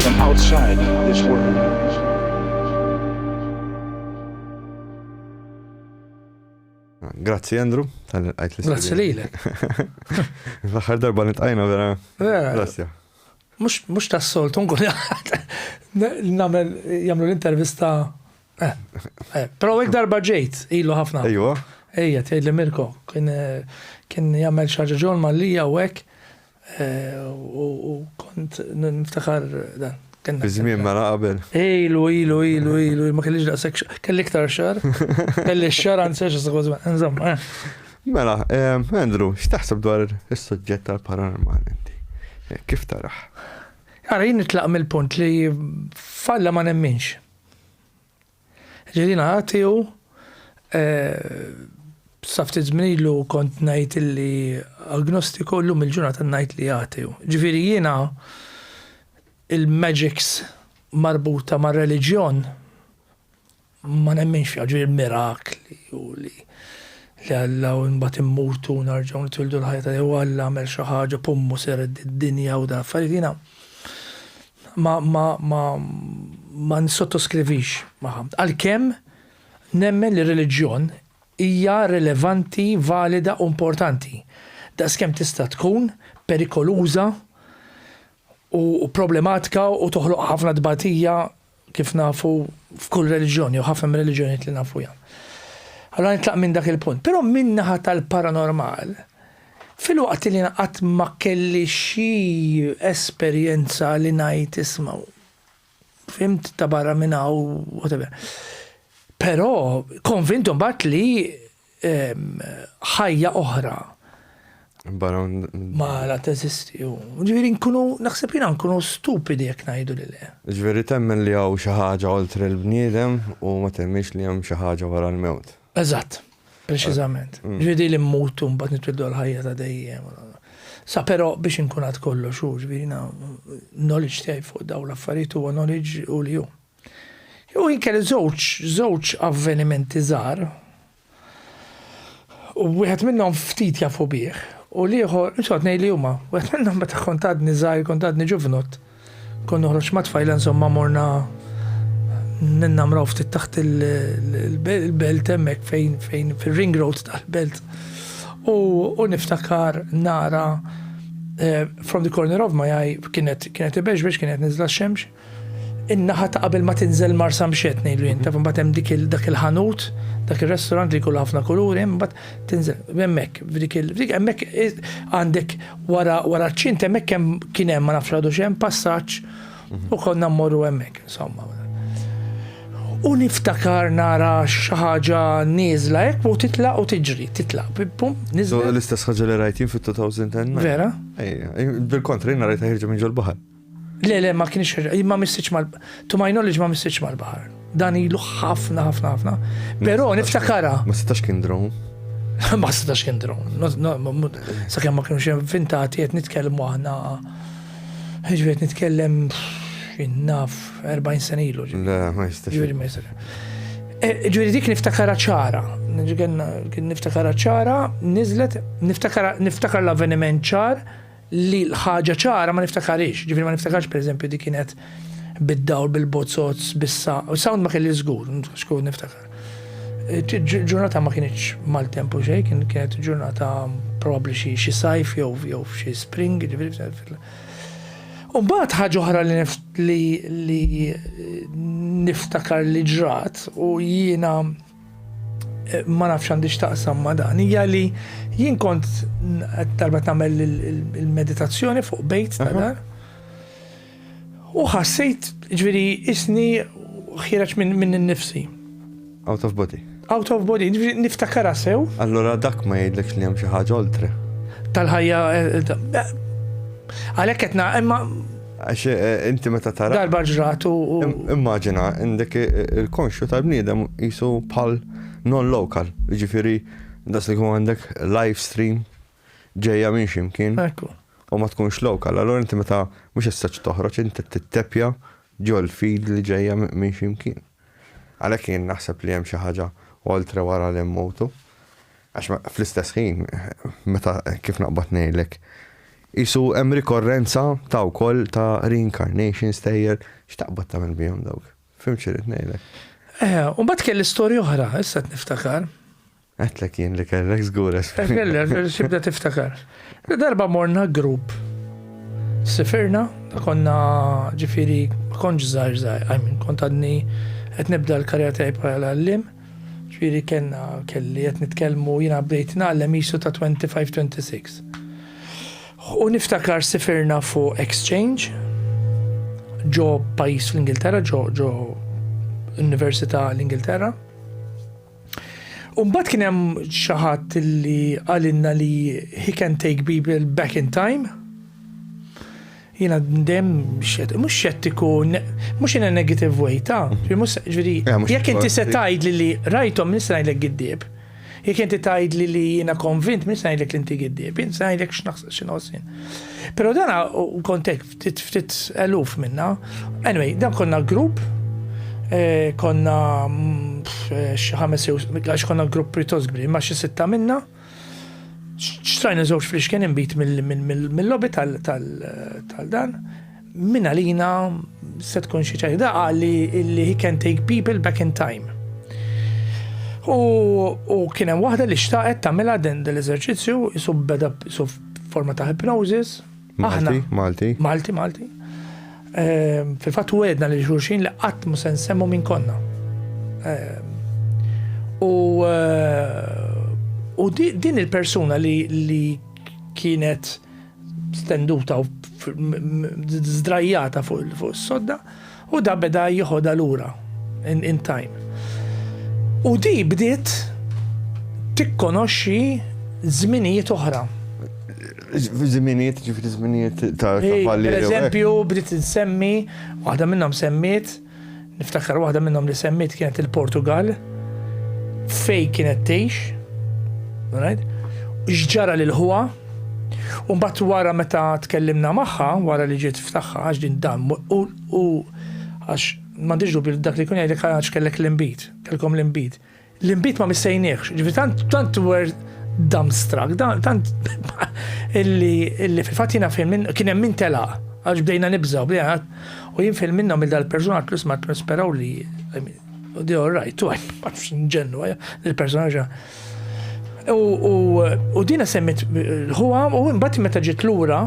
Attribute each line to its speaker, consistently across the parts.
Speaker 1: From outside this world.
Speaker 2: Grazzi Andrew, tal-għajt l Grazzi li l L-axar darba nitqajna vera. Grazzi.
Speaker 3: Mux ta' sol, tunkun namel jamlu l-intervista. Eh, eh, Pero għek darba ġejt, ilu ħafna. Ejwa. Ejja,
Speaker 2: tgħid li
Speaker 3: Mirko, kien jagħmel xaġa ġol mallija u hekk. U kont niftakar dan. Bizmien ma mela
Speaker 2: qabel. Ilu, ilu,
Speaker 3: ilu, ilu, ma kellix daqshekk xar. Kelli iktar xar. Kelli xar anzi għax s-sekważ insomma. Eh. Mela,
Speaker 2: eh, Andrew, x'taħseb dwar is-suġġett tal-paranormal inti? Eh, kif taraħ? Għara, jien
Speaker 3: nitlaq mill-punt li falla ma nemminx. Ġilina ħati hu, sa ftit żmien ilu kont ngħid illi agnostiku llum il-ġurnata ngħid li ħati hu. Ġifieri jiena il-magics marbuta mar-reliġjon ma nemminx fiha, ġifieri mirakli u li li Alla u mbagħad immutu u narġgħu nitwildu l-ħajja ta' jew Alla għamel xi ħaġa pummu seret id-dinja u dan affarijiet jiena Ma, ma, ma, ma nsottoskrivix magħha. Għalkemm nemmen li r-reliġjon hija rilevanti, valida u importanti, daqskemm tista' tkun perikoluża u problematika u toħloq ħafna tbatija kif nafu f'kull reliġjon jew ħafna mir-reliġjonijiet li nafuha. Allora nitlaq minn dak il-punt. Però min-naħa tal-paranormal, Filwaqt li jien qatt ma kelli xi esperjenza li ngħid isma' fhimt ta' barra minn hawn whatever. Però konvint imbagħad li ħajja oħra ma la teżisti. Ġifieri nkunu naħseb jiena nkunu stupidi jekk ngħidu li le. Ġifieri temmen li
Speaker 2: hawn xi ħaġa oltre l-bniedem u ma temmix li hemm xi ħaġa wara l-mewt. Eżatt,
Speaker 3: preċiżament. Mm. Ġviri li mmutu mbagħad nitwildu għal-ħajja ta' dejjem. Sa però biex inkun għad kollu xu, ġviri na knowledge tiegħi fuq daw l-affarijiet huwa knowledge u li hu. Jew inkel żewġ, żewġ avvenimenti żgħar. U wieħed minnhom ftit jafu bih. U liħor, insot nej li huma, wieħed minnhom meta kont għadni żgħir, kont għadni ġuvnut. Kont noħroġ ma' tfajla insomma morna ninnamraw ftit taħt il-belt hemmhekk fejn fejn fir-ring road tal-belt. U niftakar nara eh, from the corner of my eye kienet kienet ibeġbeġ kienet niżla x-xemx. In-naħa ta' qabel ma tinżel marsa mxet ngħidu jien, taf imbagħad hemm dik dak il-ħanut, dak ir-restaurant li jkollu ħafna kuluri, imbagħad Tinżel, hemmhekk, f'dik il f'dik hemmhekk għandek wara wara ċint hemmhekk hemm kien hemm ma nafx għadu x'hemm passaġġ u konna mmorru hemmhekk, insomma. U niftakar nara xi ħaġa nieżla hekk u titlaq u tiġri, titlaq. Pum, niżla. L-istess ħaġa li rajtin
Speaker 2: fit-2010. Vera?
Speaker 3: Bil-kontra,
Speaker 2: jien rajta ħirġa minn ġol-baħar. Le, le, ma kienx
Speaker 3: ir-re, ma missitx mal, to my knowledge ma missitx mal-baħar. Dan ilu ħafna, ħafna, ħafna. Però niftakara. Ma setax kien
Speaker 2: drone. Ma setax
Speaker 3: kien drone. Sa kemm ma kienux inventati qed nitkellmu aħna. Ġifiet nitkellem naf 40 sena ilu. Le, ma jistax. Ġifieri
Speaker 2: ma jistax. Eh,
Speaker 3: ġifieri dik niftakara ċara. Kien niftakara ċara, niżlet, niftakar l-avveniment ċar li l-ħaġa ċara ma niftakarhiex, ġifieri ma niftakarx pereżempju dik kienet bid-dawl, bil-bozzozz, bissa, u sound ma kelli żgur, xkun niftakar. Ġurnata ma kienx mal-tempu xej, kienet ġurnata probabbli xi sajf jew jew xi spring, ġifieri Umbagħad ħaġa oħra li niftakar li ġrat u jiena Eh, ma nafx għandi xtaqsam ma dan, hija li jien kont darba tagħmel il-meditazzjoni fuq bejt ta' dan. U ħassejt ġviri isni ħireġ minn min nifsi. Out of
Speaker 2: body. Out of body, ġviri
Speaker 3: niftakara sew. Allora dak ma
Speaker 2: jgħidlek li hemm xi ħaġa oltre. Tal-ħajja
Speaker 3: eh, eh, għalhekk qed imma Għax eh, eh,
Speaker 2: inti meta tara. Darba ġrat u.
Speaker 3: Immaġina,
Speaker 2: indek eh, il-konxju tal-bniedem jisu pal non-local, ġifiri, das li kum għandek live stream ġeja minn ximkien. Ekku. U ma tkunx lokal, allora inti meta mux jistax toħroġ, inti t-tepja ġol fid li ġeja minn ximkien. Għalek jien naħseb li hemm xi ħaġa oltre wara li mmutu. Għax fl-istess ħin, meta kif naqbad ngħidlek, qisu hemm rikorrenza ta' wkoll ta' reincarnation stejjer, x'taqbad tagħmel bihom dawk? Fim x'irid ngħidlek? Eh, u mbagħad
Speaker 3: kelli storja oħra, issa niftakar. Għetlek
Speaker 2: jien li kellek żgur Kellek, xibda
Speaker 3: tiftakar. Darba morna grupp. Sifirna, konna ġifiri, konġ zaħir zaħir, għajmin, kont għadni, għet nibda l-karja tajb għal-għallim. Ġifieri kellna, kelli, qed nitkellmu, jiena bdejt ngħallem qisu ta' twenty five, twenty six. U niftakar sifirna fuq exchange ġo pajjiż fl-Ingilterra, ġo ġo Università l-Ingilterra. U mbagħad kien hemm xi ħadd li qalilna li he can take people back in time. Jiena dejjem mhux xettiku, mhux in a negative way, ta' ġifieri eh, jekk inti se tgħidli li rajthom nista' ngħidlek giddieb. Jekk inti tgħidli li jiena konvint minn ngħidlek li inti giddieb, jien se ngħidlek x'naħseb x'inħossin. Però dan kontek ftit ftit eluf minna. Anyway, dan konna grupp eh, konna mm, eh, xi ħames jew għax konna grupp pjuttost kbir, ma xi sitta minna. Xtrajna żewġ fliexken imbit mill-lobby tal-dan. Minna lina se tkun xi ċajda għalli li he can take people back in time. U kien hemm waħda li xtaqet tagħmilha din l-eżerċizzju isu beda isu forma ta' hypnosis Malti, Malti.
Speaker 2: Malti, Malti.
Speaker 3: Ehm, fil-fatt u għedna li xulxin li qatt mu se nsemmu minn konna. Ehm, u eh, u din il-persuna li kienet stenduta u zdrajjata fuq il-sodda, U da beda jiħodha lura in, in time. U di bdiet tikkonoxxi żminijiet oħra.
Speaker 2: Żminijiet, ġifri żminijiet ta' kavalli. Per eżempju,
Speaker 3: bdiet insemmi, waħda minnhom semmiet, niftakar waħda minnhom li semmiet kienet il-Portugal, fej kienet tgħix, right? X'ġara lil ħuha? U mbagħad wara meta tkellimna magħha, wara li ġiet f'tagħha għax din dan u għax m'għandix dubju li dak li jkun jgħidlek għax kellek l-inbid, kellkom l-inbid. L-inbid ma missejniex, ġifi tant tant were dumbstruck, tant illi fil-fatt jiena fil minn kien hemm min telaq għax bdejna nibżaw, bdejna u jien fil minnhom il-dal-persuna tlus ma nisperaw li Dio right, tu għaj, ma nġennu, il-personaġa. U dina semmit l-ħuha u mbagħad meta ġiet lura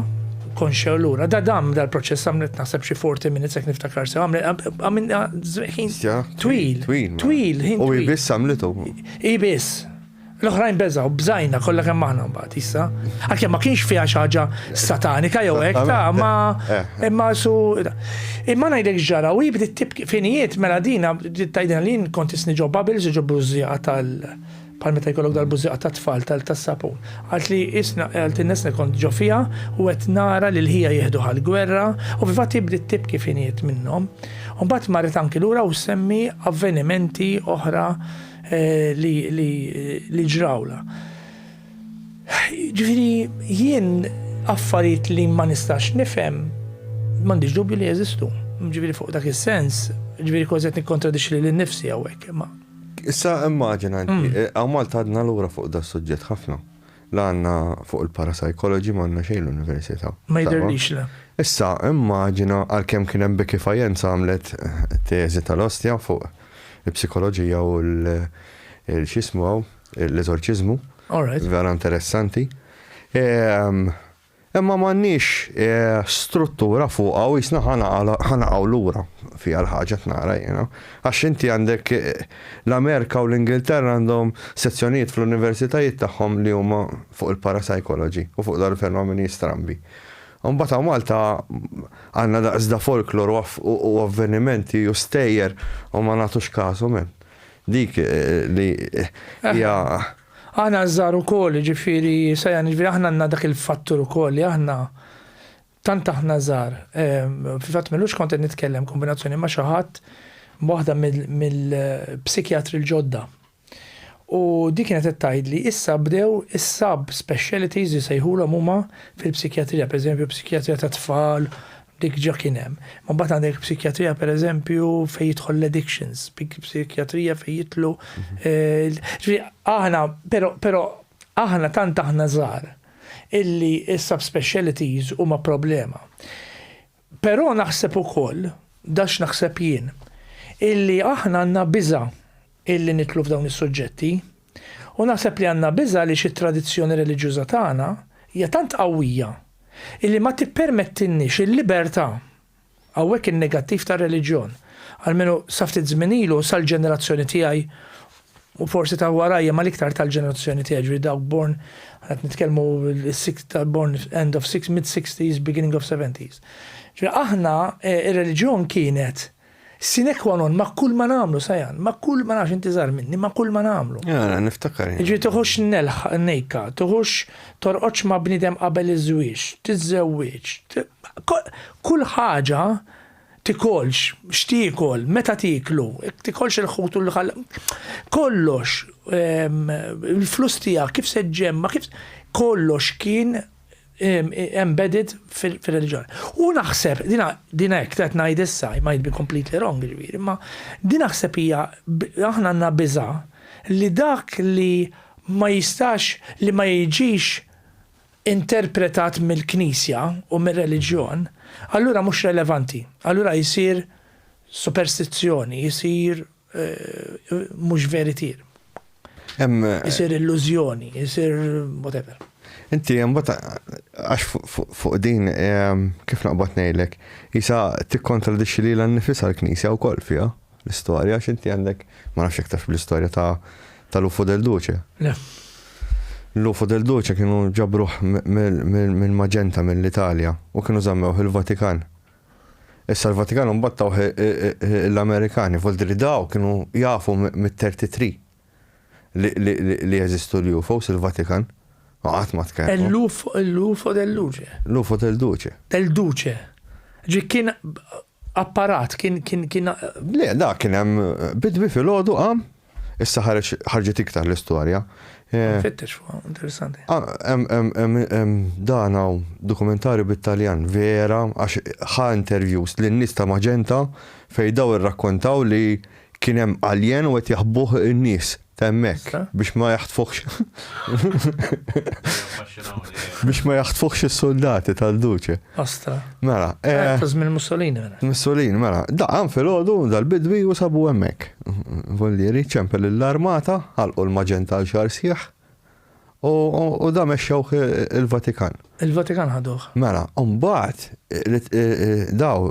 Speaker 3: konxja lura, da dam dal-proċess għamlet naħseb xi 40 minutes jekk niftakar sew għamilna ħin twil. Twil. Twil. U
Speaker 2: jbiss għamlitu. Jbiss.
Speaker 3: L-oħrajn beżaw, bżajna kollha kemm aħna mbagħad issa. Għalkemm ma kienx fiha xi ħaġa satanika jew hekk ta' ma eh. imma su imma ngħidlek ġara u jibdi tibki finijiet mela dina Bdiet tgħidilna li jien kont isni ġo bubbles u ġo bużżieqa tal bħal meta jkollok dal-bużżieqa tat-tfal tas-sapun. Qaltli isna qaltilna isna kont ġo fiha u qed nara lil ħija jieħduh għall-gwerra u fil-fatt hi bdiet tibki f'għinijiet minnhom. U mbagħad marret anki lura u ssemmi avvenimenti oħra li li ġrawlha. Ġifieri jien affarijiet li ma nistax nifhem m'għandix dubju li jeżistu. Ġifieri fuq dak is-sens, ġifieri kważi qed nikkontradixxi lili nnifsi hawnhekk imma. Issa
Speaker 2: immaġina inti, hawn Malta għadna lura fuq dan is-suġġett ħafna. La għandna fuq il-parapsychology m'għandna xejn l-università. Ma jidhirlix le.
Speaker 3: Issa immaġina,
Speaker 2: għalkemm kien hemm Becky Fajenza għamlet teżi tal-ostja fuq il-psikoloġija u l-x'jismu hawn. l-eżorċiżmu. Vera interessanti. Ehm, imma m'għandniex eh, struttura fuq u jisna ħanaqgħu lura fi għal ħaġa tnara jiena. Għax inti għandek eh, l-Amerika u l-Ingilterra għandhom sezzjonijiet fl-universitajiet tagħhom li huma fuq il-parapsikoloġi u fuq dar fenomeni strambi. Mbagħad hawn Malta għandna daqsda folklor u avvenimenti u stejjer u ma nagħtux kasu men. Dik li hija. Aħna
Speaker 3: ż-żgħar ukoll, jiġifieri Sajan, jiġifieri aħna għandna dak il-fattur ukoll li aħna tant aħna żgħar. Fil-fatt m'illux kont qed nitkellem kombinazzjoni ma' xi ħadd waħda mill-psikjatri l-ġodda. U di kienet qed tgħidli issa bdew is-sub specialities jisejħulhom huma fil-psikjatrija, pereżempju psikjatrija tat-tfal, Dik ġa kien hemm. Imma mbagħad għandek psikjatrija pereżempju fejn jidħol l-addictions, psikjatrija fejn jidħlu. Ġifieri aħna, però, però aħna tant aħna żgħar illi s-subspecialties huma problema. Però naħseb ukoll, dax naħseb jien, illi aħna għandna biża' illi nidħlu f'dawn is-suġġetti, U naħseb li għandna biża' għaliex it-tradizzjoni reliġjuża tagħna hija tant qawwija illi ma tippermettilniex il-libertà. Hawnhekk in-negattiv tar-reliġjon, almenu sa ftit żmien ilu u sal-ġenerazzjoni tiegħi u forsi ta' warajja ma l-iktar tal-ġenerazzjoni tiegħi ġifieri dawk born qed nitkellmu born end of mid-60s beginning of 70s. Ġifieri aħna ir-reliġjon kienet Sine qua non ma' kull ma nagħmlu, Sajan, ma' kull ma nafx inti żgħar minni, ma' kull ma nagħmlu. Ara, niftakar.
Speaker 2: Jiġifieri toħodx nelħ
Speaker 3: nejka, toħodx torqodx ma' bniedem qabel iż-żwieġ, tiżżewwieġ, kull ħaġa tikolx, x'tiekol, meta tieklu, tikolx il-ħut u l-ħal, kollox, il-flus tiegħek kif se ġġemma', kif kollox kien embedded fir-reliġjon. U naħseb, din hekk qed ngħid issa, I might be completely wrong ġifieri, imma din naħseb hija aħna għandna biża' li dak li ma jistax li ma jiġix interpretat mill-Knisja u mir-reliġjon, allura mhux relevanti, allura jsir superstizzjoni, jsir mhux veritier. Isir illużjoni, isir whatever. Inti mbagħad
Speaker 2: għax fuq din kif naqbad ngħidlek, isa tikkontradixxi lilha nnifisha l-Knisja wkoll fiha l-istorja għax inti għandek ma nafx iktar fl-istorja ta' tal-Ufo del Duce. L-Ufo del Duce kienu ġabruh mill-Maġenta mill-Italja u kienu żammew il-Vatikan. Issa l-Vatikan imbagħad tawh l-Amerikani, volti li daw kienu jafu mit-33 li jeżistu l-UFOs il-Vatikan. Ma qatt ma tkellmu. L-UFO del
Speaker 3: Duce. L-UFO del Duce.
Speaker 2: Del Duce.
Speaker 3: Ġi kien apparat, kien kien kien. Le, da
Speaker 2: kien hemm bidwi fil-ħodu qam Issa ħareġ ħarġet iktar l-istorja. Eh, Fittex
Speaker 3: fuq, interessanti. Ah, dan
Speaker 2: hawn dokumentarju bit-Taljan vera għax ħa interviews lin nies ta' Maġenta fejn daw irrakkontaw li kien hemm alien u qed jaħbuh in-nies temmek biex ma jaħtfuħx. biex ma jaħtfuħx is-soldati tal-duċe. Astra. Mela.
Speaker 3: Eh,
Speaker 2: Taż minn Mussolini
Speaker 3: mela. Mussolini, mela.
Speaker 2: Daqan fil-ħodu dal-bidwi u sabu hemmhekk. Vollieri ċempel l-armata, ħalqu l-maġenta għal xar sieħ u da mexxewh il-Vatikan. Il-Vatikan ħaduh.
Speaker 3: Mela, mbagħad
Speaker 2: eh, eh, daw.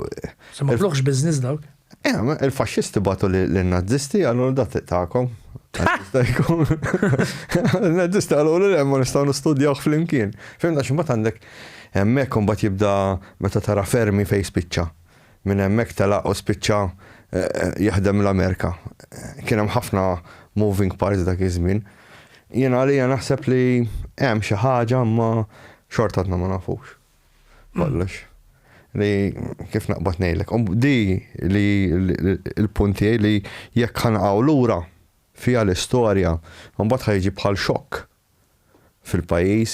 Speaker 2: Se ma
Speaker 3: biznis dawk. Eħe, il-faxxisti
Speaker 2: bagħtu lin-Nazisti qalulu da triq tagħkom. Jista' jkun. Il-Nazisti qalulu le ma nistgħu nistudjawh flimkien. Fehim għax imbagħad għandek hemmhekk u mbagħad jibda meta tara Fermi fejn spiċċa. Minn hemmhekk telaq u spiċċa jaħdem l-Amerika. Kien hemm ħafna moving parts dak iż-żmien. Jien għalija naħseb li hemm xi ħaġa imma xorta għadna ma nafux. Kollux. Li kif naqbad ngħidlek. Um, di li l-punti li jekk ħanqgħu lura fija l-istorja, mbagħad ħajġi bħal xokk fil-pajjiż,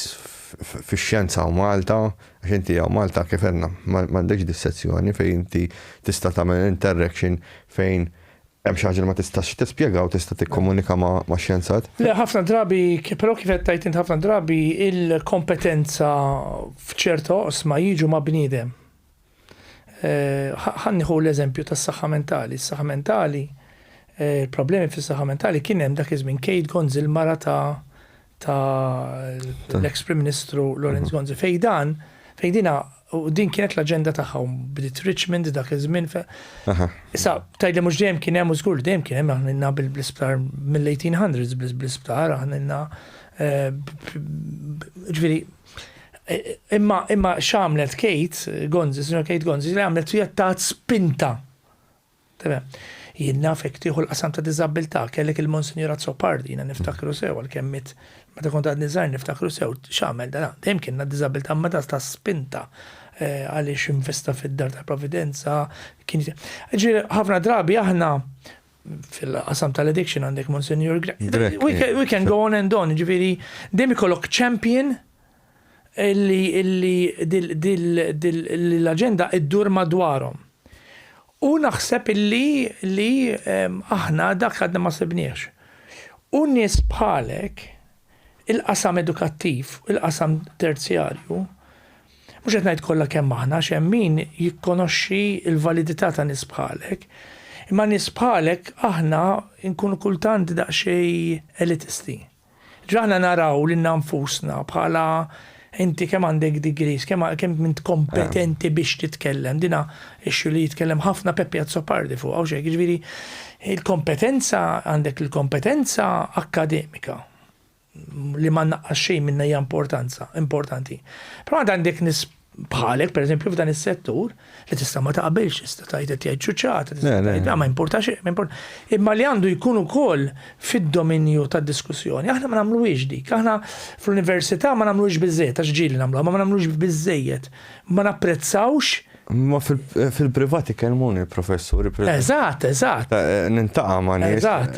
Speaker 2: fix-xjenza u Malta, għax inti għaw Malta kif għenna, m'għandekx dis-sezzjoni fejn inti tista' tagħmel interaction fejn Hemm xi ħaġa li ma tistax tispjega u tista' tikkomunika ma' xjenzat? Le, ħafna drabi,
Speaker 3: però kif qed tgħid int ħafna drabi il-kompetenza f'ċerta oqsma jiġu ma' bniedem. Ħa nieħu l-eżempju tas-saħħa mentali. Is-saħħa mentali, il-problemi fis-saħħa mentali kien hemm dak iż-żmien Kate Gonzi l-mara ta' ta' l-ex Prim Ministru Lorenz Gonzi fej dan fej dina u din kienet l-aġenda tagħha bdiet Richmond dak iż-żmien. Issa tgħidli mhux dejjem kien hemm u żgur dejjem kien hemm aħna bl-isptar mill-1800s bl-isptar aħna eh, ġifieri eh, imma imma x'għamlet Kate Gonzi, Sinjor Kate Gonzi, li għamlet hija tat spinta Tebgħa. Jien naf hekk tieħu l-qasam ta' diżabbiltà, kellek il-Monsinjur Azzopardi, jiena niftakru sew għalkemm miet meta kont għadni żgħir niftakru sew x'għamel dan. Dejjem kellna diżabbiltà imma ta' ta' spinta eh, għaliex investa fid-dar tal-Providenza. Kien Ġifieri, ħafna drabi aħna fil-qasam tal-addiction għandek Monsinjur Grek. Grek, We can- we can go on and on, ġifieri dejjem ikollok champion li l-aġenda ddur madwarhom. U naħseb li aħna dak għadna ma sibniehx. U nies bħalek, il-qasam edukattiv, il-qasam terzjarju, mhux qed ngħid kollha kemm aħna għax hemm min jikkonoxxi l-validità ta' nies bħalek, imma nies bħalek aħna nkunu kultant daqsxejn elitisti. Ġ'aħna naraw lilna nfusna bħala inti kemm għandek degrees, kemm kemm int kompetenti biex titkellem. Dina issue li jitkellem ħafna Peppi Azzopardi fuqha u xejn, jiġifieri il-kompetenza għandek il-kompetenza akkademika li ma naqqas xejn minnha hija importanza, importanti. Però għandek bħalek pereżempju f'dan is-settur li tista' ma taqbilx, tista' tgħid qed jgħid ċuċċata, tista' tgħid ma importax, ma importax. Imma li għandu jkun ukoll fid-dominju tad-diskussjoni. Aħna ma nagħmluhiex dik, aħna fl-università ma nagħmluhiex biżejjed għax ġieli nagħmluha, ma nagħmluhiex biżejjed. Ma napprezzawx Ma
Speaker 2: fil-privati kelmuni professuri. Eżatt, eżatt.
Speaker 3: Eh, nintaqa
Speaker 2: ma' nies. Eżatt.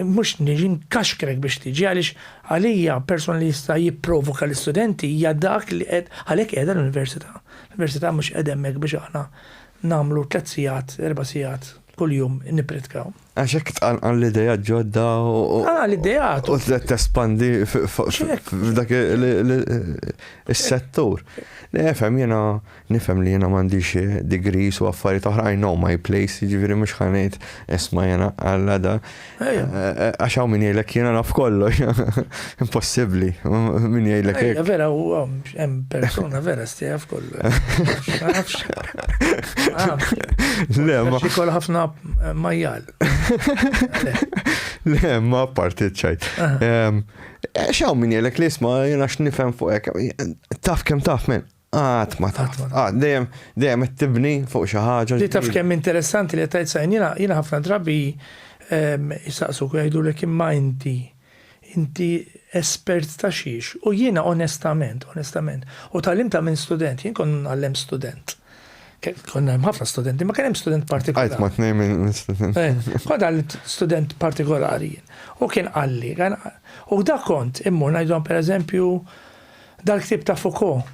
Speaker 3: Mhux niġi nkaxkrek biex tiġi għaliex għalija persuna li jista' jipprovoka l-istudenti hija dak li qed għalhekk qiegħda l-università. L-università mhux qiegħda hemmhekk biex aħna nagħmlu tliet sigħat, erba' sigħat kuljum nippritkaw. Għax hekk tqanqal
Speaker 2: l-ideat ġodda u. Tqanqal l-ideat.
Speaker 3: U trid tespandi
Speaker 2: f'dak is-settur. Nefhem jiena Nifhem li jiena m'għandix degrees u affarijiet oħra, I know my place, jiġifieri mhux ħa ngħid isma' jiena Alla da. Għax hawn min jgħidlek jiena naf kollox. Impossibbli, min jgħidlek hekk. Vera hemm
Speaker 3: persuna vera stejja f'kollox. Ma nafx. Le, ma. Xikol ħafna eh, majjal.
Speaker 2: Le, ma partit ċajt. Xaw min jelek li isma jena x'nifhem fuq hekk. Taf kemm taf men. Qatt ma taf. Qatt dejjem dejjem qed tibni fuq xi ħaġa. Li taf kemm interessanti
Speaker 3: li tajt sajn jiena jiena ħafna drabi jsaqsuk u jgħidulek imma inti inti espert ta' xiex u jiena onestament onestament u tgħallimtha minn student jien kont ngħallem student konna hemm ħafna studenti, ma kien hemm student partikolari. Għajt ma tnejn minn
Speaker 2: student. Eh, kont għal
Speaker 3: student partikolari. U kien għalli, u da kont immur ngħidhom pereżempju Dal-ktieb ta' Foucault,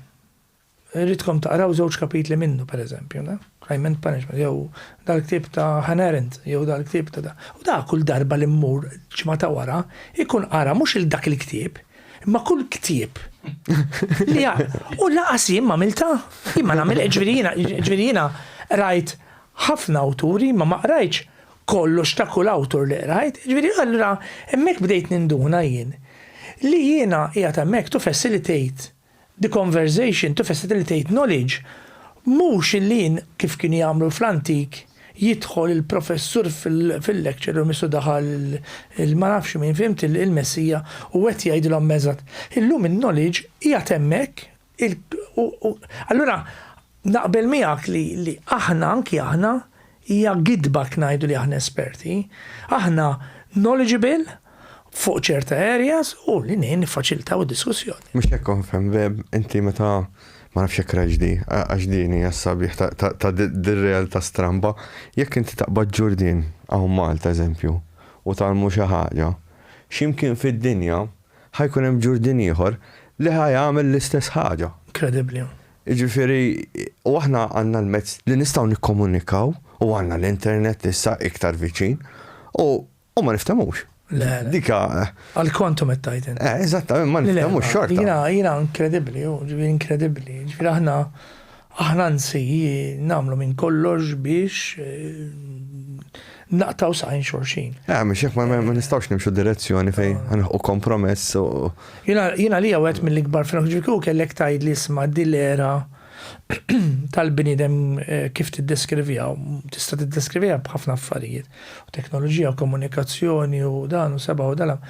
Speaker 3: irridkom taqraw żewġ kapitli minnu, pereżempju, le? Crime and Punishment, jew dal-ktieb ta' Hannah Arendt, jew dal-ktieb ta' da. U da kull darba li mmur ġimgħa ta' wara, ikun qara mhux il dak il-ktieb, imma kull ktieb li jaqra. U laqas jien m'għamiltha. Jien ma nagħmilha, ġifieri jiena, ġifieri jiena qrajt ħafna awturi, imma ma qrajtx kollox ta' kull awtur li qrajt, jiġifieri allura hemmhekk bdejt ninduna jien li jiena qiegħed hemmhekk to facilitate the conversation, to facilitate knowledge, mhux illi jien kif kienu jagħmlu fl-antik jidħol il-professur fil-lecture room isu daħal il-ma nafx min, fhimt, il-messija u qed jgħidilhom eżatt. Illum in-knowledge qiegħed hemmhekk Allura naqbel miegħek li aħna, anki aħna, hija gidba jekk ngħidu li aħna esperti. Aħna knowledgeable fuq ċerta areas u li ngħin niffaċilitaw id-diskussjoni. Mhux hekk kont fhemm,
Speaker 2: Webb, inti meta ma nafx jekk rajtx di, għax din hija s-sabiħ ta' dir-realtà stramba, jekk inti taqbad ġurdien hawn Malta eżempju u tgħallmu xi ħaġa, x'imkien fid-dinja ħa jkun hemm Ġurdien ieħor li ħa jagħmel l-istess ħaġa. Inkredibbli.
Speaker 3: Jiġifieri,
Speaker 2: u aħna għandna l-mezz li nistgħu nikkomunikaw u għandna l-internet li issa iktar viċin u ma niftemux. Le. Dika. Eh. Għal
Speaker 3: kontu mettajt. Eh, eżattament, ma niftemux
Speaker 2: xorta. Jina, jina inkredibbli,
Speaker 3: ġifieri inkredibbli. Ġifieri aħna Aħna anzi nagħmlu minn kollox biex naqtgħu saqajn xulxin. Ah, mhux hekk ma
Speaker 2: nistgħux nimxu direzzjoni fejn ħanħu kompromess u. Jiena li
Speaker 3: wieħed mill-ikbar fil ġifiku kellek tgħid li isma' dil-era tal-bniedem eh, kif tiddeskrivija, tista' tiddeskrivija b'ħafna affarijiet, u teknoloġija, u komunikazzjoni, u dan, u seba' u dalam.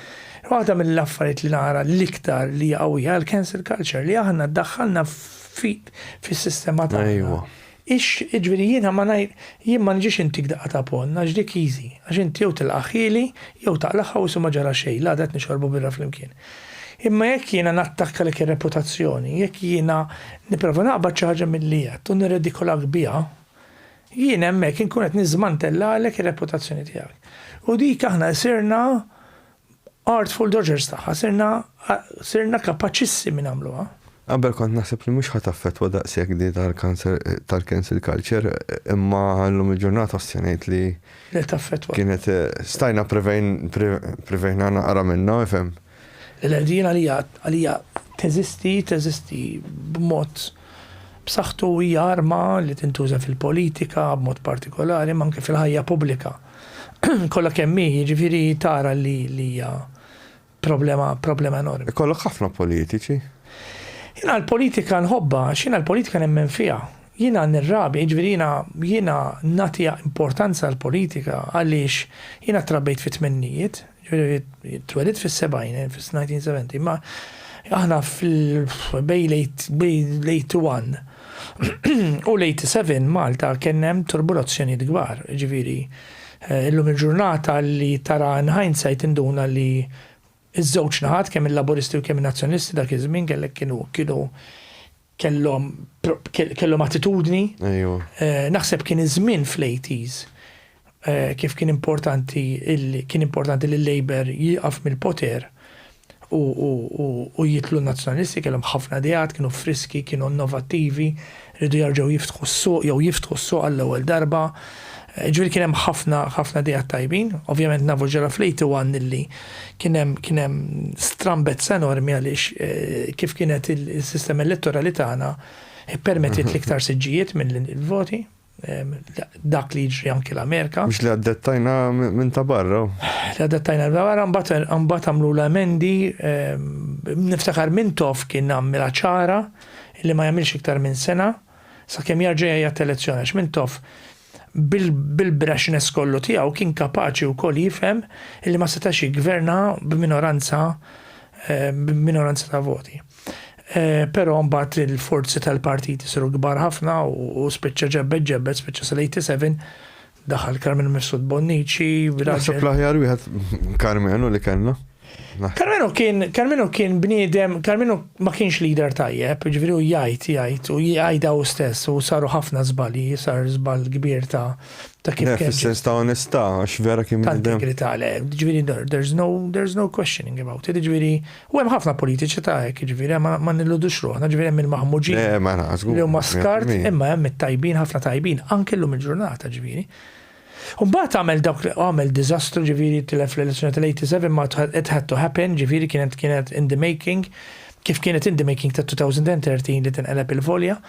Speaker 3: Waħda mill-affarijiet li nara l-iktar li għawija l-cancel culture li aħna daħħalna fis-sistema ta' Ejwa. Ix, iġviri jiena ma ngħid, jien ma nġiex intik daqqa ta' ponn, għax dik easy, għax inti jew tilqagħ ħieli, jew taqlagħha u issu ma ġara xejn, l-għada qed nixorbu birra flimkien. Imma jekk jiena nattakkalek ir-reputazzjoni, jekk jiena nipprova naqbad xi ħaġa milli għedt u nirredikolak biha, jien hemmhekk inkun qed niżmantellalek ir-reputazzjoni tiegħek. U dik aħna sirna Artful Dodgers tagħha sirna sirna kapaċissimi nagħmluha. Qabel kont naħseb
Speaker 2: li mhux ħa taffettwa daqshekk di tal-cancer tal-cancel culture imma llum il-ġurnata ossi ngħid li Li taffettwa. kienet stajna prevejn pre- prevejna naqra minnha ifhem. Il-ħerdien
Speaker 3: għalija għalija teżisti teżisti b'mod b'saħħtu hija arma li tintuża fil-politika b'mod partikolari imma anke fil-ħajja pubblika kollha kemm hi, jiġifieri tara li hija problema problema enormi. Ikollok ħafna politiċi.
Speaker 2: Jiena
Speaker 3: l-politika nħobbha, għax jiena l-politika nemmen fiha. Jiena nirrabi, jiġifieri jiena jiena nagħtiha importanza l-politika għaliex jiena trabbejt fit-tmennijiet, Twelidt fis-70, fis-1970, ma aħna fil-bej late 1 u late 7 Malta kien hemm turbulazzjonijiet kbar, ġifieri eh, illum il-ġurnata li tara in hindsight induna li iż-żewġ naħat kemm il-Laburisti u kemm in-Nazzjonalisti dak iż-żmien kellek kienu kienu kellhom kellhom attitudni. Ejwa. Naħseb kien iż-żmien fl-80s kif kien importanti kien importanti li l-Labour jieqaf mill-poter u jitlu n-Nazzjonalisti kellhom ħafna ideat, kienu friski, kienu innovattivi, riedu jerġgħu jiftħu s-suq jew jiftħu s-suq għall-ewwel darba. Ġifieri kien hemm ħafna ħafna ideat tajbin. Ovvjament nafu x'ġara fl-81 illi Kien hemm kien hemm strambezza enormi għaliex kif kienet il-sistema elettorali tagħna ippermettiet l-iktar siġġijiet mill-voti dak li jiġri anki l-Amerika. Mhux li għaddettajna
Speaker 2: minn ta' barra. Li għaddettajna minn
Speaker 3: ta' barra mbagħad għamlu l-emendi niftakar minn tof kien għamilha ċara li ma jagħmilx iktar minn sena sakemm jarġa' jgħid elezzjoni għax minn tof bil-braxness kollu tiegħu kien kapaċi wkoll jifhem li ma setax jiggverna b'minoranza eh, b'minoranza ta' voti. Eh, però mbagħad il-forzi tal-partit isiru kbar ħafna u spiċċa ġebbet ġebbet spiċċa sal-87 daħal Carmen Messud Bonnici. Naħseb l-aħjar
Speaker 2: wieħed Carmenu li kellna. Carmenu kien,
Speaker 3: Carmenu kien bniedem, Carmenu ma kienx leader tajjeb, ġifieri u jgħid, jgħid, u jgħidha u stess, u saru ħafna żbalji, sar żball kbir ta' ta' kif kien. Fis-sens ta' onestà,
Speaker 2: għax vera kien bniedem. Ta' integrità, le, ġifieri
Speaker 3: there's no, there's no questioning about it, ġifieri, u hemm ħafna politiċi ta' hekk, ġifieri, ma nilludux ruħna, ġifieri hemm il-maħmuġin. Le, ma nagħżgu. Li huma skart, imma hemm it-tajbin, ħafna tajbin, anke llum il-ġurnata, ġifieri. U mbagħad għamel dawk li għamel diżastru ġifieri tilef l-elezzjoni tal-87 ma it had to happen ġifieri kienet kienet in the making kif kienet in the making ta' 2013 li tinqeleb il-volja.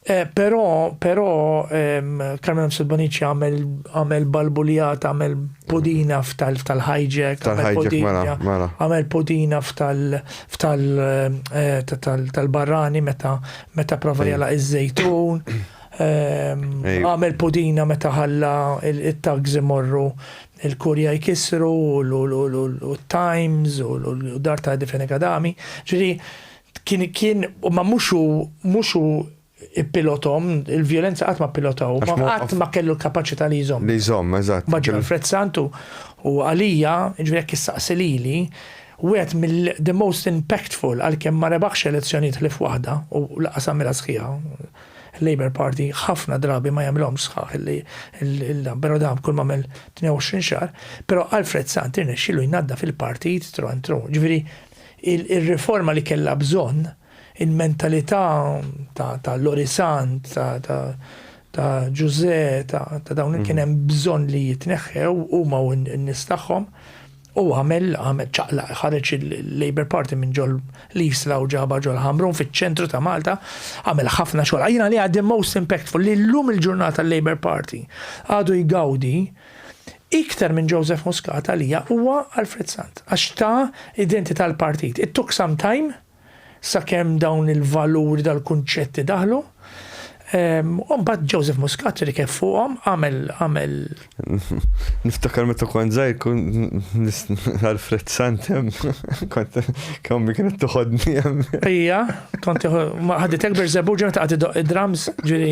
Speaker 3: Eh, però, però, ehm, Carmelo Msilbonici għamel, għamel balbuljat, għamel podina f'tal, f'tal hijack, għamel mela, podina, mela. għamel podina f'tal, f'tal, eh, tal-barrani meta, meta prova jala iż-żejtun. Għamel pudina meta ħalla it-tags imorru il-kurja jkissru u t-times u l-dar ta' difeni kadami. Ġiri, kien kien ma muxu muxu pilotom, il-violenza qatt ma pilotaw, ma qatt ma kellu l-kapaċità li jżomm. Li jżomm, eżatt. Maġġor
Speaker 2: Alfred Santu
Speaker 3: u għalija, ġifieri jekk issaqsi lili, wieħed mill-the most impactful għalkemm ma rebaħx elezzjonijiet ħlief waħda u lanqas għamilha sħiħa, Il-Labour Party ħafna drabi ma jagħmilhomx sħaħ illi il-dan, però dan kull ma għamel 22 xahar, però Alfred Sant irnexxielu jnaddaf il-partit tru għand tru. Ġifieri ir-riforma li kellha bżonn, il-mentalità ta' Lori Sant, ta' Ġużè, ta' dawn li kien hemm bżonn li jitneħħew huma u n-nies tagħhom, U għamel, għamel ċaqlaq, ħareġ il-Labour Party minn ġol l-Isla u ġaba ġol Ħamrun fiċ-ċentru ta' Malta, għamel ħafna xogħol. Għajna li għaddi most impactful li l-lum il-ġurnata l-Labour Party għadu jgawdi iktar minn Joseph Muscat għalija huwa Alfred Sant, għax ta' identità l-partit. It took some time, sakemm dawn il-valuri tal-kunċetti daħlu. U mbagħad Joseph Muscat li kif fuqhom għamel għamel.
Speaker 2: Niftakar meta kont żgħir kun Alfred Santem kont kemm mi kienet toħodni hemm. Ija, kont
Speaker 3: ħadet ekber żebu ġew taqgħod idoq id-drums ġiri.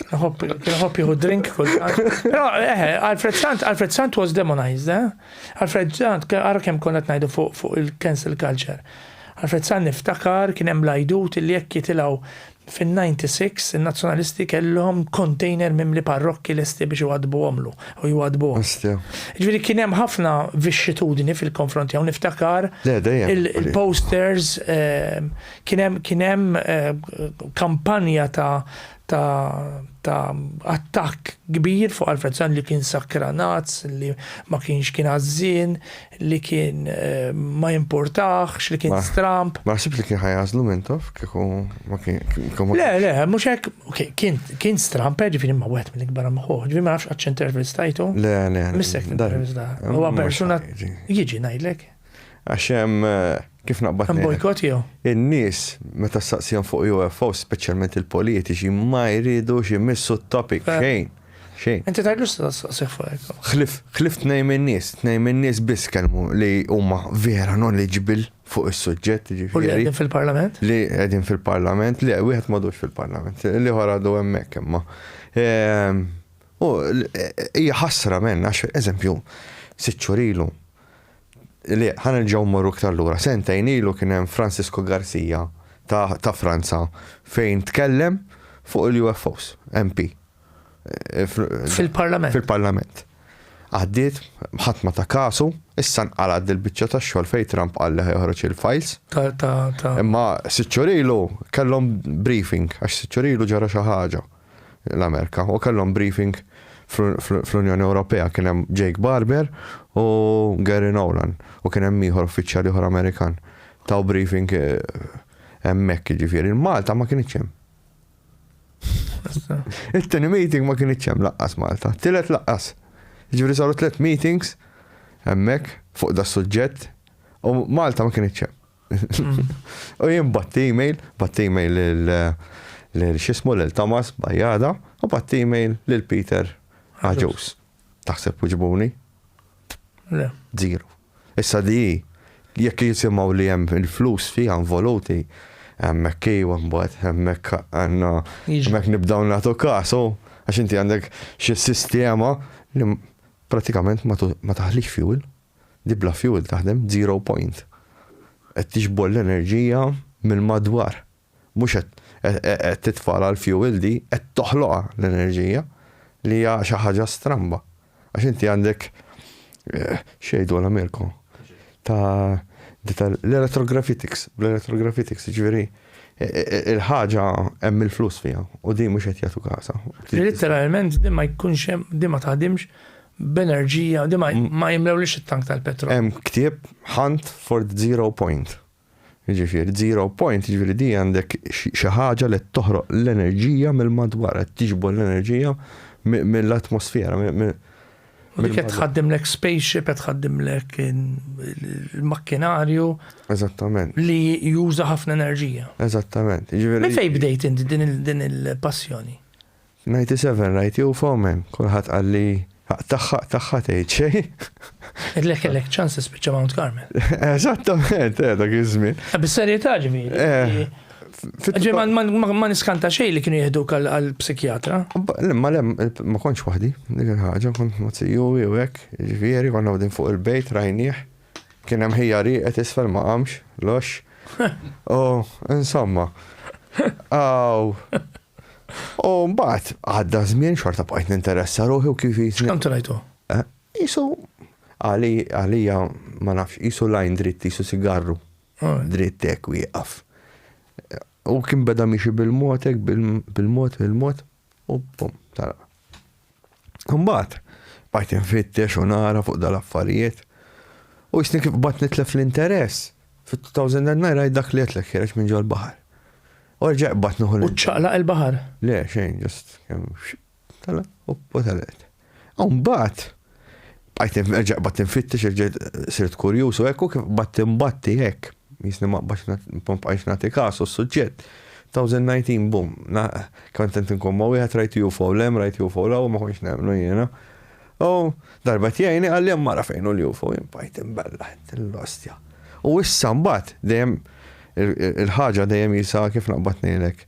Speaker 3: Nħobb jieħu drink kull. Eh, Alfred Sant, Alfred Sant was demonized, eh? Alfred Sant, ara kemm konna qed ngħidu fuq fuq il-cancel culture. Alfred Sant niftakar kien hemm l-għajdut illi jekk jitilgħu fin-96 in-Nazzjonalisti kellhom container mimli parrokki lesti biex iwaddbuhomlu u jwaddbuhom. Ostja. Jiġifieri kien hemm ħafna vixxitudni fil-konfront tiegħu niftakar Le, dejjem. il- Oli. il-posters eh, kien hemm kien hemm eh, kampanja ta' ta' ta' attakk kbir fuq Alfred Sann li kien sakranazz, li ma kienx kien għażżien, li kien ma jimpurtahx, li kien stramb. Ma naħsibx li kien ħa jagħżlu
Speaker 2: Mintoff kieku ma kien. Le, le, mhux
Speaker 3: hekk, kien kien stramb, jiġifieri ma wieħed mill-ikbar hemm ħuh, ġifieri ma nafx qatt x'intervistajtu. Le, le. Missek
Speaker 2: intervista.
Speaker 3: Huwa persuna jiġi ngħidlek. Għax hemm
Speaker 2: kif naqbad. Hemm bojkott jew?
Speaker 3: In-nies
Speaker 2: meta ssaqsihom fuq UFO, speċjalment il-politiċi, ma jridux imissu t-topic eh. xejn. Xejn. Inti tgħidlu
Speaker 3: staqsih fuq hekk. Ħlif, ħlif tnejn
Speaker 2: min-nies, tnejn min-nies biss kelmu li huma vera knowledgeable fuq is-suġġett. U li qegħdin fil-Parlament?
Speaker 3: Li qegħdin
Speaker 2: fil-Parlament, li wieħed m'għadux fil-Parlament, li ħor għadu hemmhekk imma. Ehm, u hija ħasra menn għax eżempju, siċċurilu li ħa nerġgħu mmorru iktar lura. Sentejn ilu kien hemm Francisco Garcia ta', ta Franza fejn tkellem fuq il-UFOs, MP. Eh,
Speaker 3: Fil-Parlament. Fil-Parlament.
Speaker 2: Għaddiet, ħadd ma ta' kasu, issa nqalad dil-biċċa ta' xogħol fejn Trump qal li ħeħroġ il-files. Imma siċċurilu kellhom briefing għax siċċurilu ġara xi ħaġa. l-Amerika u kellhom briefing fl-Unjoni Ewropea kien hemm Jake Barber u Gary Nolan u kien hemm ieħor uffiċjal ieħor Amerikan. Taw briefing hemmhekk jiġifieri. Malta ma kienx hemm. It-tieni meeting ma kienx hemm laqqas Malta. Tielet laqqas. Jiġifieri saru tliet meetings hemmhekk fuq da suġġett u Malta ma kienx hemm. U jien batt email, batt email lil xismu lil Thomas Bajjada u batt email lil Peter Aġus. Taħseb uġbuni?
Speaker 3: Le. Zero.
Speaker 2: Issa di jekk jisimaw li hemm il-flus fi involuti, hemmhekk kiju mbagħad hemmhekk għandna hemmhekk nibdaw nagħtu kasu għax inti għandek xi sistema li pratikament ma taħlix fuel. li bla fuel taħdem zero point. Qed tiġbor l-enerġija mill-madwar. Mhux qed qed titfa' għal fuel di, qed toħloqha l-enerġija li hija xi ħaġa stramba. Għax inti għandek xejdu għal Mirko ta' l-elettrografitics, bl-elettrografitics, ġifieri il-ħaġa hemm il-flus fiha u din mhux qed jagħtu kasa. Literalment
Speaker 3: din ma jkunx hemm, din ma taħdimx b'enerġija li ma jimlewlix it-tank tal-petrol. Hemm ktieb
Speaker 2: Hunt for the Zero Point. Jiġifieri zero point, jiġifieri di għandek xi ħaġa li toħroq l-enerġija mill-madwar, qed tiġbor l-enerġija mill-atmosfera.
Speaker 3: U dik qed tħaddimlek spaceship, qed tħaddimlek il-makkinarju. Eżattament. Li
Speaker 2: juża
Speaker 3: ħafna enerġija. Eżattament.
Speaker 2: Minn fejn bdejt
Speaker 3: inti din il-passjoni? Ninety
Speaker 2: seven rajt jew fomen, kulħadd qalli ħaq tagħha ħaq tagħha tgħid xejn. Idlek kellek
Speaker 3: ċans tispiċċa Mount Carmel. Eżattament,
Speaker 2: eh, dak iż-żmien. Eh, bis-serjetà
Speaker 3: ġifieri. Eh, ġej ma niskanta xejn li kienu jieħdu għal psikjatra. Ma lem,
Speaker 2: ma kontx waħdi, dik il-ħaġa, kont ma tsiju u hekk, ġifieri konna għodin fuq il-bejt rajnieh. Kien hemm ħija rieqet isfel ma qamx, lox. U insomma. Aw. U mbagħad għadda żmien xorta bqajt ninteressa ruħi u kif jisni. Kemm trajtu? Eh,
Speaker 3: isu
Speaker 2: għalija ma nafx, isu lajn dritt, isu sigarru. Ah. Dritt hekk wieqaf. U kien beda miexi bil-mod hekk bil-mod bil-mod. U pum, tara. Mbagħad bajt infittex u nara fuq dal-affarijiet. U jisni kif bat nitlef l-interess. Fit-2009 rajt dak li għetlek ħireġ minn ġol baħar. U rġaq bat nuħu l U ċaqlaq il-baħar?
Speaker 3: Le, xejn, ġust,
Speaker 2: tala, u talaqt. U mbagħad bqajt nerġa' qbad tinfittex irġejt sirt kurjuż u hekk u kif qbad tinbatti hekk. Jisni ma qbadx nbqajx nagħti kasu s-suġġett. 2019 bum, kemm tent inkun ma' wieħed rajt UFO lem, rajt UFO law ma kontx nemmnu jiena. U darba tjajni qal li hemm mara fejn hu l-UFO, jien bqajt imbella l-ostja. U issa mbagħad dejjem il-ħaġa dejjem jisa kif naqbad ngħidlek.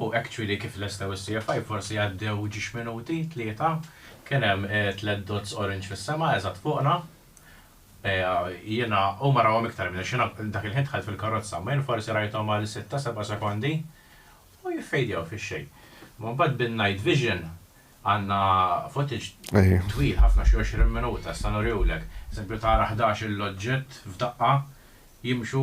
Speaker 4: U hekk ċwili kif lestew is-CFI forsi għaddew ġiex minuti, tlieta, kien hemm tliet dots orange fis-sema eżatt fuqna. Jiena, huma rawhom iktar minni għax jiena dak il-ħin dħalt fil-karozza, imma jien forsi rajthom għal sitta, seba' sekondi u jiffejdjaw fix-xejn. Imma mbagħad bin-night vision għandna footage twil ħafna xi għoxrin minuta, issa nurihulek. Eżempju tara ħdax-il oġġett f'daqqa jimxu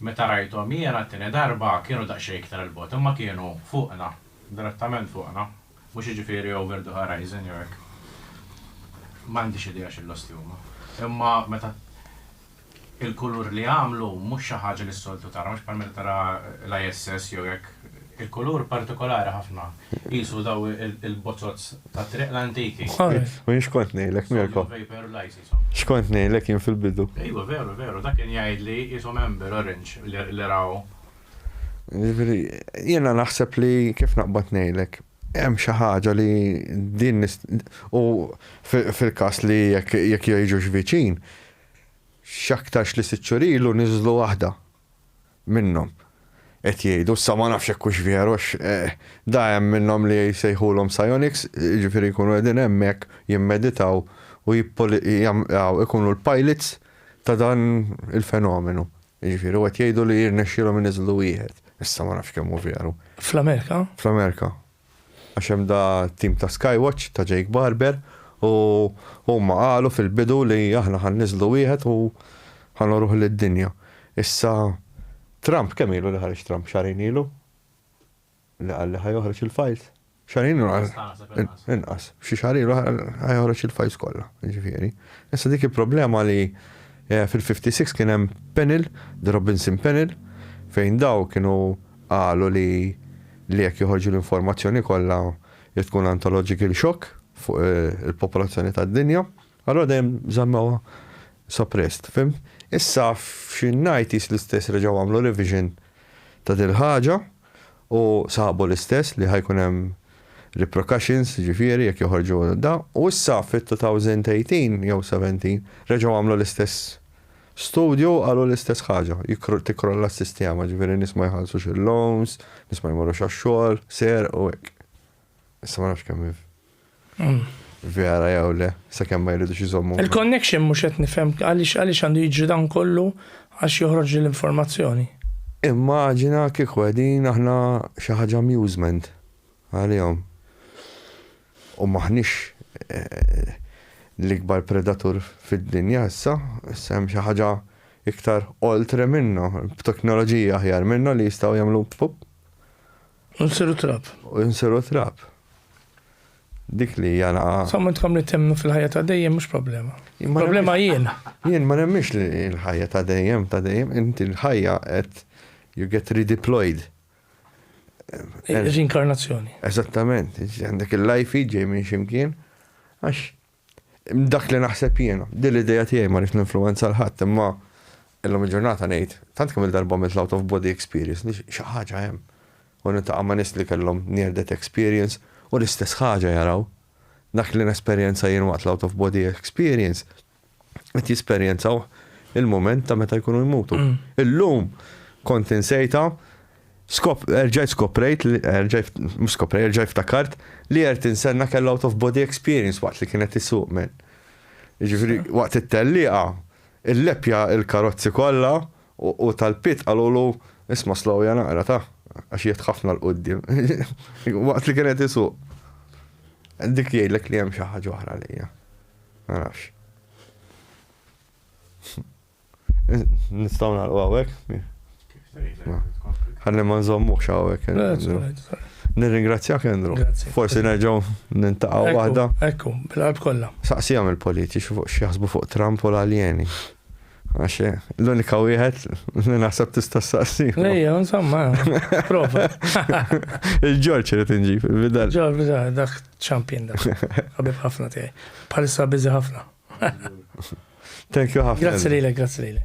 Speaker 3: Meta
Speaker 4: rajthom jiena t-tieni darba kienu daqsxejn iktar 'il bogħod imma kienu fuqna, direttament fuqna. Mhux jiġifieri over the horizon jew hekk. M'għandix idea xi losti huma. Imma meta il-kulur li għamlu mhux xi ħaġa li s-soltu tara, mhux bħal meta tara l-ISS jew hekk. Il-kulur partikolari ħafna. Qisu dawn il-bozoz tat-triq l-antiki. U jien x'kont
Speaker 2: ngħidlek Mirko? X'kont ngħidlek jien fil-bidu? Ejwa veru veru dak
Speaker 4: kien jgħidli qishom Amber Orange li raw. Jiġifieri
Speaker 2: jiena naħseb li kif naqbad ngħidlek hemm xi ħaġa li din u fil-każ li jekk jgħixux viċin x'aktarx li sitt xhur ilu niżlu waħda minnhom qed jgħidu, issa ma nafx jekk hux veru għax da hemm minnhom li jsejħulhom psionics, jiġifieri jkunu qegħdin hemmhekk jimmeditaw u jkunu l-pilots ta' dan il-fenomenu. Jiġifieri u qed jgħidu li jirnexxielhom iniżżlu wieħed, issa ma nafx kemm hu veru. Fl-Amerika?
Speaker 3: Fl-Amerika.
Speaker 2: Għax hemm da t-tim ta' Skywatch ta' Jake Barber u huma qalu fil-bidu li aħna ħa nniżżlu wieħed u ħa nuruh lid-dinja. Issa Trump kemm ilu li ħareġ Trump? Xahrejn ilu? Li qal li ħa joħroġ il-files? Xahrejn ilu? Inqas ta' naħseb inqas. Inqas. Xi xahar ilu ħa joħroġ il-files kollha, jiġifieri. Issa dik il-problema li fil-56 kien hemm panel, the Robinson panel, fejn daw kienu Qalu li li jekk joħorġu l-informazzjoni kollha li tkun antological shock fuq il-popolazzjoni tad-dinja, allura dejjem żammewha suppressed, fhimt? Issa f'xin-90s l-istess reġgħu għamlu revision ta' dil-ħaġa u sabu l-istess li ħa jkun hemm reprocutions jiġifieri jekk joħorġu da u issa fit-2018 jew 17 reġgħu għamlu l-istess Studju qalu l-istess ħaġa, tikkrolla s-sistema, ġifieri nies ma jħallsux il-loans, nies ma jmorrux għax-xogħol, serq u hekk. Issa ma nafx kemm vera jew le, sakemm ma jridux iżommu. Il-connection mhux qed
Speaker 3: nifhem għaliex għaliex għandu jiġri dan kollu għax joħroġ din l-informazzjoni. Immaġina
Speaker 2: kieku qegħdin aħna xi ħaġa amusement għalihom. U m'aħniex l-ikbar predatur fid-dinja issa, issa hemm xi ħaġa iktar oltre minna, b'teknoloġiji aħjar minna li jistgħu jagħmlu pup. U
Speaker 3: nsiru trab. U nsiru trab.
Speaker 2: Dik li hija naqa. Sa ma tkam li temnu
Speaker 3: fil-ħajja ta' dejjem mhux problema. Problema jien. Jien ma nemmix
Speaker 2: li l-ħajja ta' dejjem ta' dejjem, inti l-ħajja qed you get redeployed.
Speaker 3: Rinkarnazzjoni. Eżattament,
Speaker 2: għandek il-lajfi ġej minn ximkien, għax dak li naħseb jiena, din l-ideja tiegħi ma rridx ninfluwenza l-ħadd, imma illum il-ġurnata ngħid, tant kemm il-darba mill out of body experience, li xi ħaġa hemm. U nintaqa' ma' nies li kellhom near death experience u l-istess ħaġa jaraw. Dak li nesperjenza jien waqt l-out of body experience qed jesperjenzaw il-moment ta' meta jkunu jmutu. Mm. Illum kont insejta Skop, erġajt skoprejt, erġajt, skoprejt, erġajt ftakart li għert insenna kell out of body experience waqt li kienet isuq men. Ġifri, waqt it-telliqa, il-lepja il-karozzi kolla u tal-pit għalulu isma slow jana għara ta' għax jiet ħafna l-qoddim. Waqt li kienet isuq. Dik jgħidlek li hemm xi ħaġa oħra lejja. Ma nafx. Nistaw nagħlqu hawnhekk? Ħalli ma nżommuhx hawnhekk. Eh, Nirringrazzjak Kendru. Forsi nerġgħu nintaqgħu waħda. Ekku, bil-qalb
Speaker 3: kollha. Saqsihom il-politiċi
Speaker 2: fuq x'jaħsbu fuq Trump u l-aljeni. Għax l-unika wieħed li naħseb tista' saqsi. Lejja, insomma,
Speaker 3: prova.
Speaker 2: Il-Ġorġ irid inġi fil-bidal. Ġorġ bidal, dak
Speaker 3: ċampin dak. Għabib ħafna tiegħi. Palissa biżi ħafna.
Speaker 2: Thank
Speaker 3: you ħafna. Grazzi lilek, grazzi
Speaker 2: lilek.